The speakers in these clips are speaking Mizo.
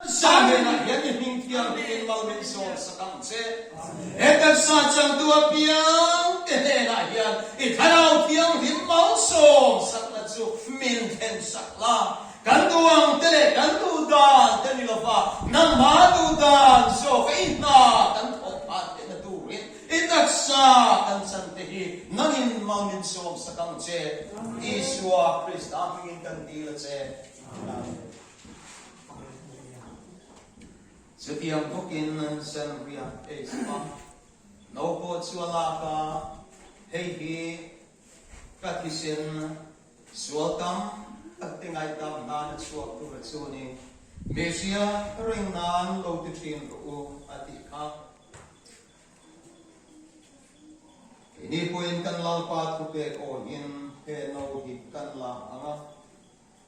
Sahnena hian Nihning Thianghlim in mal min zawm sak ang che. He taksa changtu a piang te hnenah hian i Thlarau Thianghlim mal zawm sakna chu min thlen sak la. Kan nu ang te leh kan nu dan te ni lova nangma nu dan zawk a inhna kan thawh phan theihna turin i taksa kan chan te hi nangin mal min zawm sak ang che. Isua Krista hmingin kan dil a che. Amen. Chutiang bawkin Sen riak ei zuk a, no pawh chu a lak a, hei hi ka thisen sual tam tak te ngaihtam nan a chhuak tur a chuang i Mehria ka reng nan lo ti thin rawh u a ti kha. Keini pawhin kan Lalpa thupek awiin he no hi kan lak ang a.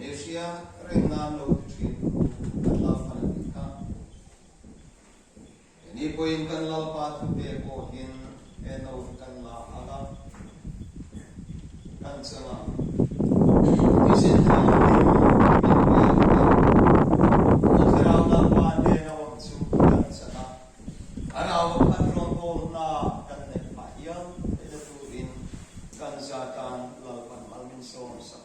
Asia reng nan lo ti thin thu kan Lalpa la ni kha. Keni pawhin kan Lalpa thute pawhin eno hi kan la alh a, kan cheng a. Nisin hi a tum hming leh leh Pu Thirau Lalpa nen a awm chu kan chak a, a rau a khat rawng pawl hna kan neih phah hial theih na turin kan zatan Lalpa Malminsawm sak.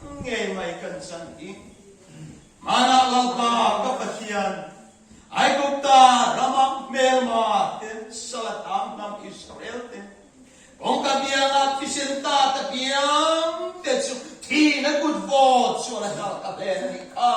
Nge mai kan chang hi? Hmanah Lalpa ka Pathian, Aigupta rama hmelma te, Salatham hnam Israel te, kawngka biala thisen ta ta biang te chu thina kut vaw chuan a hlar ta hle a nih kha.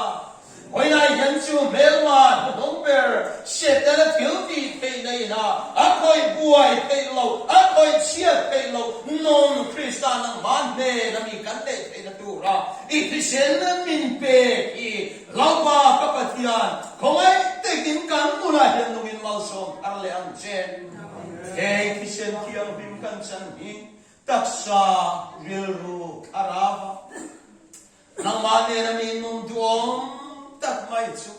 Hawilai hian chu hmelmah hnuhnung ber hriat te la thil ti theih nei ha, a khawih buai theih lo, a khawih chhiat theih lo nawn Kristan an hman hnena mi kan neih theih na tura i thisen min pek hi Hlaupa ka Pathian khawngaih tekin kan bulah hian lungin malsawm thar leh ang che. He thisen thianghlim kan chan hi taksa rilru thlarau a. Nangmah nen a min mum duhawm tak mai chu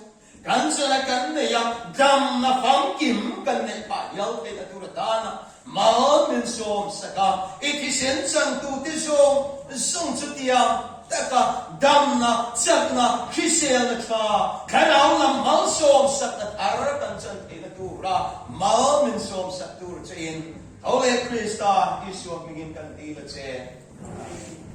kan chuan a kan nei a, damna famkim kan neih phah hial theih a tur atana mal min sawm sak a, i thisen changtute zawng zawng chu tiang taka damna chakna hriselna tha thlarau lam hmang sawm sak a thar kan chuan theihna tura mal min sawm sak tur che in tho leh Krista Isua hmingin kan ti la che.